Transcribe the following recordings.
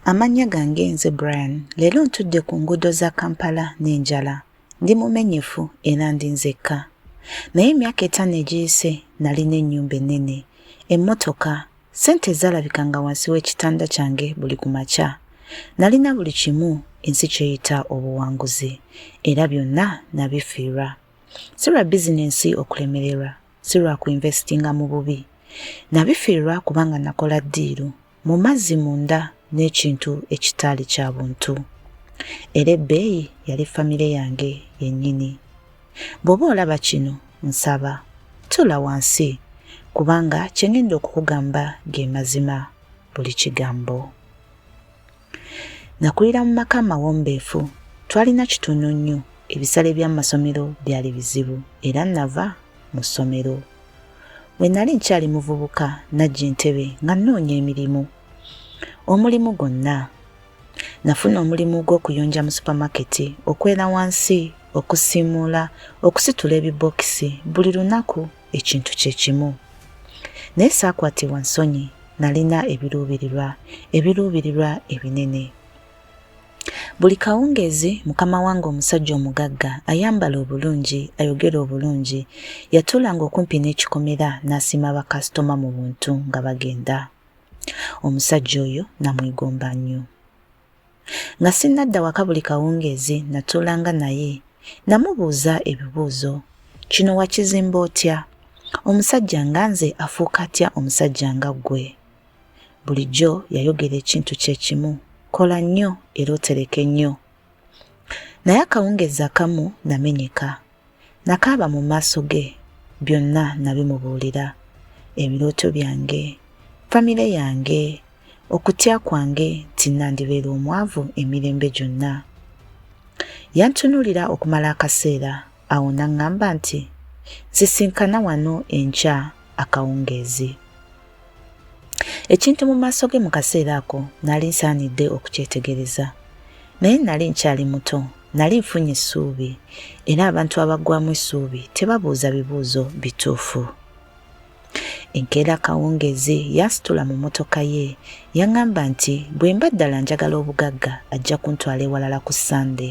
Amannya gange nze Brian. Leero ntudde ku nguudo za Kampala n'enjala. Ndi mumenyefu era ndi nzekka. Naye emyaka etaano egiyise nalina ennyumba ennene, emmotoka, ssente ezaalabika nga wansi w'ekitanda kyange buli ku makya. Nalina buli kimu ensi kyeyita obuwanguzi era byonna nabifiirwa. Si lwa bizinensi okulemererwa, si lwa kuinvestinga mu bubi. Nabifiirwa kubanga nakola ddiiru. mu mazzi munda n'ekintu ekitaali kya buntu. Era ebbeeyi yali famire yange yennyini. Bw'oba olaba kino, nsaba tula wansi kubanga kye ngenda okukugamba ge mazima buli kigambo. Nakulira mu maka amawombeefu, twalina kitono nnyo, ebisale by'amasomero byali bizibu era nava mu ssomero Bwe nali nkyali muvubuka najja entebe nga nnoonya emirimu. Omulimu gwonna. Nafuna omulimu gw'okuyonja mu supamaketi, okwera wansi, okusiimuula, okusitula ebibookisi buli lunaku ekintu kye kimu. Naye saakwatibwa nsonyi, nalina ebiruubirirwa, ebiruubirirwa ebinene. Buli kawungeezi mukama wange omusajja omugagga ayambala obulungi ayogera obulungi yatuulanga okumpi n'ekikomera n'asiima bakasitoma mu buntu nga bagenda omusajja oyo namwegomba nnyo nga sinnadda waka buli kawungeezi natuulanga naye namubuuza ebibuuzo kino wakizimba otya omusajja nga nze afuuka atya omusajja nga ggwe Bulijjo yayogera ekintu kye kimu, kola nnyo era otereke nnyo. Naye akawungezi akamu namenyeka. Nakaaba mu maaso ge, byonna nabimubuulira. Ebirooto byange, famire yange, okutya kwange nti nandibeera omwavu emirembe gyonna. Yantunulira okumala akaseera Awo n'aŋŋamba nti, Nsisinkana wano enkya akawungeezi. Ekintu mu maaso ge mu kaseera ako nali nsaanidde okukyetegereza. Naye nali nkyali muto, nali nfunye essuubi, era abantu abaggwamu essuubi tebabuuza bibuuzo bituufu. Enkeera akawungeezi yansitula mu mmotoka ye, yaŋŋamba nti bwe mba ddala njagala obugagga ajja kuntwala ewalala ku Ssande.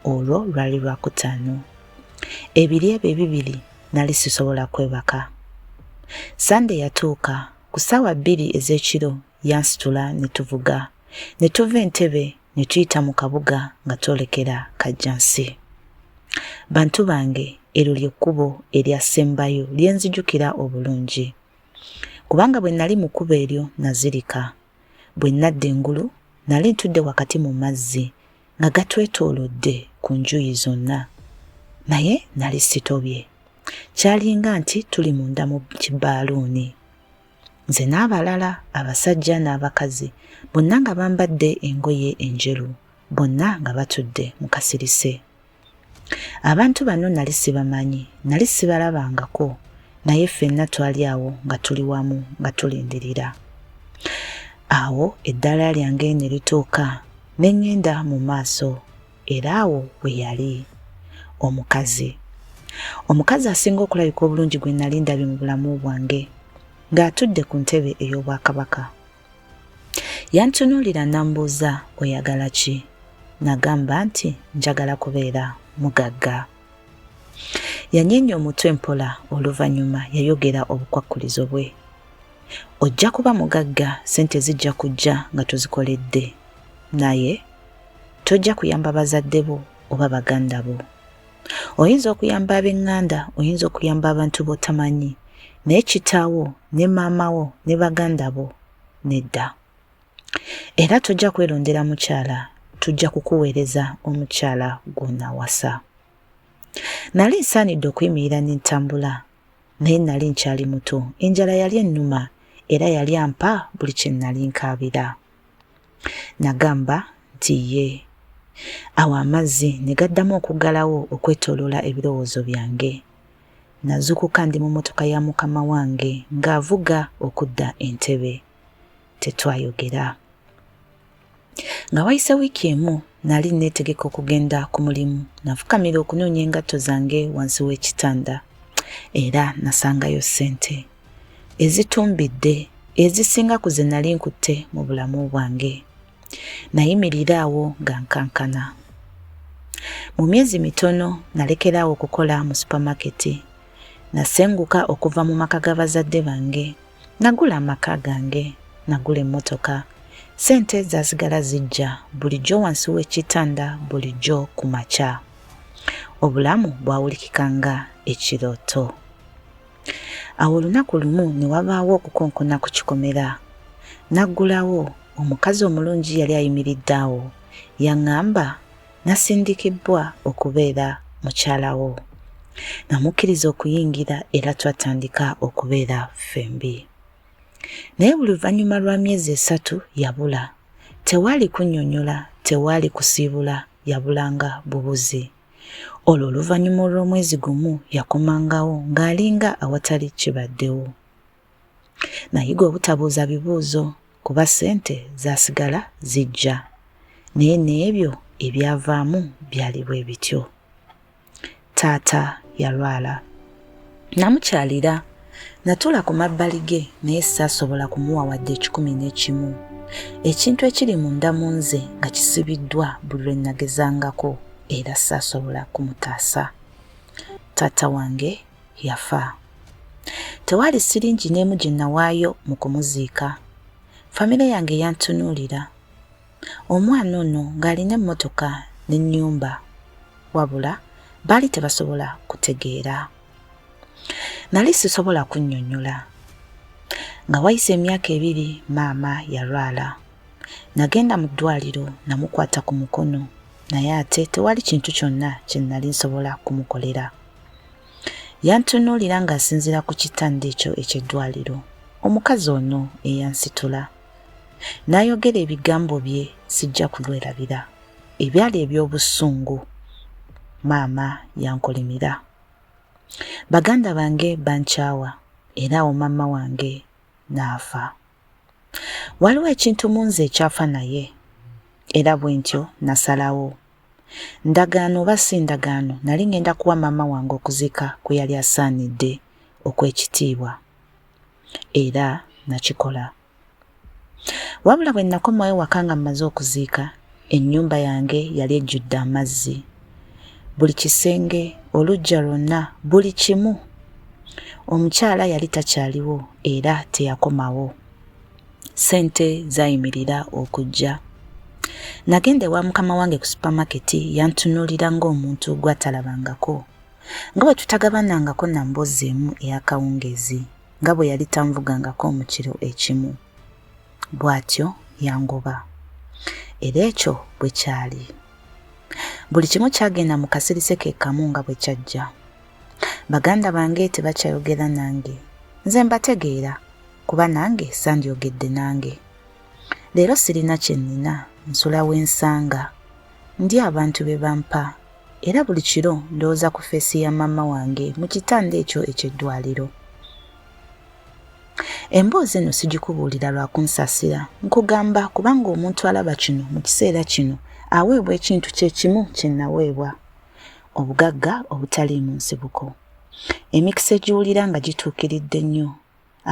olwo lwali lwakutaano ebiri ebyo ebibiri nali sisobola kwebaka sande yatuuka ku ssaawa bbiri ez'ekiro yansitula ne tuvuga ne tuva entebe ne tuyita mu kabuga nga twolekera kajjansi bantu bange eryo ly'ekkubo eryasembayo lye nzijukira obulungi kubanga bwe nali mu kkubo eryo nazirika bwe nnadda engulu nali ntudde wakati mu mazzi nga gatwetoolodde ku njuyi zonna naye nali sitobye kyalinga nti tuli munda mu kibaaluuni nze n'abalala abasajja n'abakazi bonna nga bambadde engoye enjeru bonna nga batudde mu kasirise abantu bano nali sibamanyi nali sibalabangako naye ffenna twali awo nga tuli wamu nga tulindirira awo eddaala lyange ne lituuka ne ŋŋenda mu maaso era awo we yali omukazi omukazi asinga okulabika obulungi gwe nali ndabye mu bulamu bwange ng'atudde ku ntebe ey'obwakabaka Yantunuulira n'ambuuza oyagala ki? Nagamba nti njagala kubeera mugagga. Yanyeenya omutwe mpola oluvannyuma yayogera obukwakkulizo bwe. Ojja kuba mugagga ssente zijja kujja nga tuzikoledde. Naye tojja kuyamba bazadde bo oba baganda bo. Oyinza okuyamba ab'eŋŋanda, oyinza okuyamba abantu b'otamanyi, naye kitaawo ne maama wo ne baganda bo nedda. Era tojja kwerondera mukyala, tujja kukuweereza omukyala gw'onaawasa. Nali nsaanidde okuyimirira ne ntambula, naye nali nkyali muto. Enjala yali ennuma era yali ampa buli kye nali nkaabira. Nagamba nti ye. Awo amazzi ne gaddamu okuggalawo okwetoloola ebirowoozo byange. Nazukuka ndi mu motoka ya mukama wange ng'avuga okudda entebe. Tetwayogera. Nga wayise wiiki emu nali netegeka okugenda ku mulimu nafukamira okunoonya engatto zange wansi w'ekitanda era nasangayo ssente. ezitumbidde ezisinga ku ze nali nkutte mu bulamu bwange nayimirira awo nga nkankana mu myezi mitono nalekeraawo okukola mu supamaketi nasenguka okuva mu maka ga bazadde bange nagula amaka gange nagula emmotoka sente zasigala zijja bulijjo wansi w'ekitanda bulijjo ku makya obulamu bwawulikika nga ekirooto Awo olunaku lumu ne wabaawo okukonkona ku kikomera. Naggulawo, omukazi omulungi yali ayimiridde awo. Yaŋŋamba, Nasindikibbwa okubeera mukyala wo. Namukkiriza okuyingira era twatandika okubeera ffembi. Naye buli luvannyuma lwa myezi esatu yabula. Tewaali kunnyonnyola, tewaali kusiibula, yabulanga bubuzi. Olwo oluvannyuma olw'omwezi gumu yakomangawo ng'alinga awatali kibaddewo. Nayiga obutabuuza bibuuzo kuba ssente zaasigala zijja naye n'ebyo ebyavaamu byali bwe bityo. Taata yalwala. Namukyalira. Natuula ku mabbali ge naye saasobola kumuwa wadde ekikumi n'ekimu. Ekintu ekiri munda mu nze nga kisibiddwa buli lwe nagezangako era saasobola kumutaasa. Taata wange yafa. Tewaali siringi n'emu gye nawaayo mu kumuziika. Famire yange yantunuulira. Omwana ono ng'alina emmotoka n'ennyumba wabula baali tebasobola kutegeera. Nali sisobola kunnyonnyola. Nga wayise emyaka ebiri maama yalwala. Nagenda mu ddwaliro namukwata ku mukono naye ate tewali kintu kyonna kye nali nsobola kumukolera. Yantunuulira ng'asinziira ku kitanda ekyo eky'eddwaliro. Omukazi ono eyansitula. n'ayogera ebigambo bye sijja kulwerabira ebyali eby'obusungu maama yankolimira baganda bange bankyawa era awo maama wange n'afa waliwo ekintu mu nze ekyafa naye era bwe ntyo nasalawo ndagaano oba si ndagaano nali ŋŋenda kuwa maama wange okuzika kwe yali asaanidde okw'ekitiibwa era nakikola. Wabula bwe nakomawo ewaka nga mmaze okuziika, ennyumba yange yali ejjudde amazzi. Buli kisenge, oluggya lwonna, buli kimu. Omukyala yali takyaliwo era teyakomawo. Ssente zayimirira okujja. Nagenda ewa mukama wange ku supamaketi yantunuulira ng'omuntu gw'atalabangako. nga bwe tutagabanangako na mboozi emu ey'akawungeezi nga bwe yali tanvugangako mu kiro ekimu bw'atyo yangoba era ekyo bwe kyali buli kimu kyagenda mu kasirise ke kamu nga bwe kyajja baganda bange tebakyayogera nange nze mbategeera kuba nange sandyogedde nange leero sirina kye nnina nsula w'ensanga ndi abantu be bampa Era buli kiro ndowooza ku feesi ya maama wange mu kitanda ekyo eky'eddwaliro. Emboozi eno sigikubuulira lwa kunsasira, nkugamba kubanga omuntu alaba kino mu kiseera kino aweebwa ekintu kye kimu kye naweebwa, obugagga obutaliimu nsibuko. Emikisa egiwulira nga gituukiridde nnyo,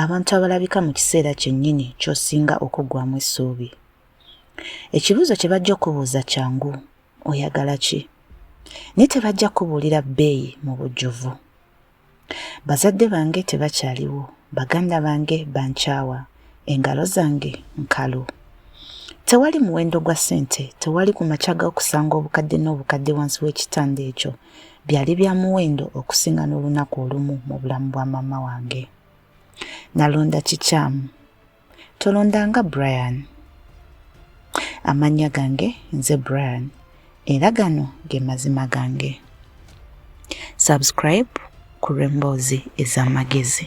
abantu abalabika mu kiseera kyennyini ky'osinga okuggwamu essuubi. Ekibuuzo kye bajja okubuuza kyangu, oyagala ki naye tebajja kubuulira bbeeyi mu bujjuvu bazadde bange tebakyaliwo baganda bange bankyawa engalo zange nkalu tewali muwendo gwa ssente tewali ku makya g'okusanga obukadde n'obukadde wansi w'ekitanda ekyo byali bya muwendo okusinga n'olunaku olumu mu bulamu bwa maama wange nalonda kikyamu tolondanga brian amannya gange nze brian era gano ge mazima gange subscribe ku lw'emboozi ez'amagezi